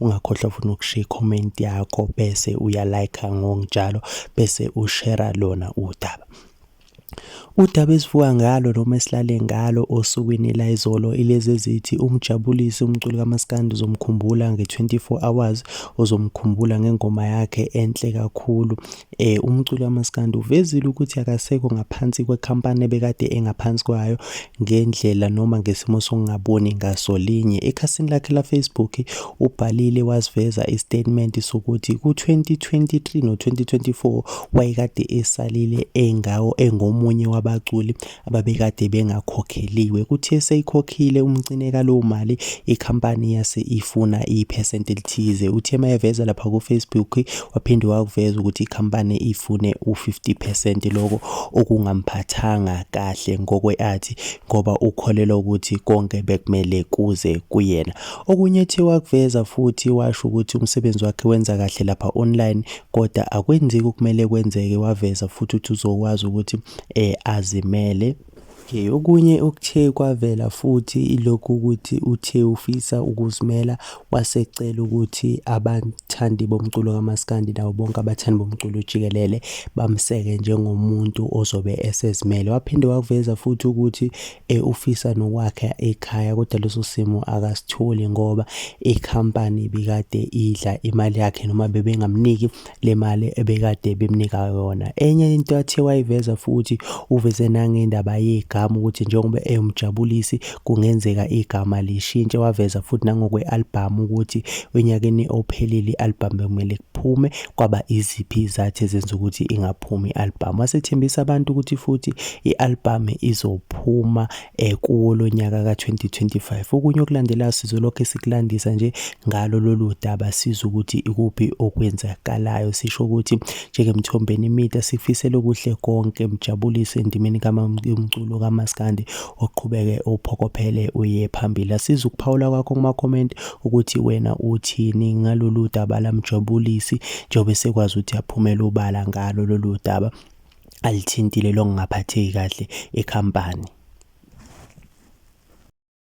ungakhohlwa futhi nokushiya i-comment yakho bese uyalayikha ngokunjalo bese ushera lona udaba Udaba esivuka ngalo noma esilale ngalo osukwini layizolo ilezi ezithi umjabulisi umculi kamaskandi uzomkhumbula nge-24 hours uzomkhumbula ngengoma yakhe enhle kakhulu eh umculi wamaskandi uvezile ukuthi akasekho ngaphansi kwekhampani ebekade engaphansi kwayo ngendlela noma ngesimo sokungaboni ngaso linye ekhasini lakhe la Facebook ubhalile wasiveza istatement sokuthi ku2023 no2024 wayekade esalile engawo engomunye wabaculi ababekade bengakhokheliwe kuthe seyikhokhile umcine kalowo mali ikhampani yase ifuna iphesenti elithize uthe uma eveza lapha kufacebook waphinde wakuveza ukuthi ikhampani ifune u-50 percent loko okungamphathanga kahle ngokwe-athi ngoba ukholelwa ukuthi konke bekumele kuze kuyena okunye uthe wakuveza futhi washo ukuthi umsebenzi wakhe wenza kahle lapha online kodwa akwenzeki okumele kwenzeke waveza futhi ukuthi uzokwazi ukuthi eh, azimele Okay, okunye okuthe kwavela futhi ilokhu ukuthi uthe ufisa ukuzimela wasecela ukuthi abathandi bomculo kamaskandi nawo bonke abathandi bomculo jikelele bamseke njengomuntu ozobe esezimele. Waphinde wakuveza futhi ukuthi e ufisa nokwakha ekhaya kodwa leso simo akasitholi ngoba ikhampani bikade idla imali yakhe noma bebengamniki le mali ebekade bemnika yona enye into athe wayiveza futhi uveze nangendaba yegama ukuthi njengoba eyomjabulisi kungenzeka igama lishintshe waveza futhi nangokwe-albhamu ukuthi onyakeni ophelile i-albhamu bekumele kuphume kwaba iziphi izathi ezenza ukuthi ingaphumi i-albhamu wasethembisa abantu ukuthi futhi i-albhamu izophuma um kuwo lo nyaka ka-2025 okunye okulandelayo sizolokhu sikulandisa nje ngalo lolu daba siza ukuthi ikuphi okwenzakalayo sisho ukuthi njengemthombeni imida sifisele okuhle konke mjabulise endimeni kamamculo kamaskandi uqhubeke uphokophele uye phambili asiza ukuphawula kwakho kuma-comment ukuthi wena uthini ngalolu daba lamjabulisi njengoba esekwazi ukuthi aphumele ubala ngalo lolu daba alithintile lokungaphatheki kahle ekhampani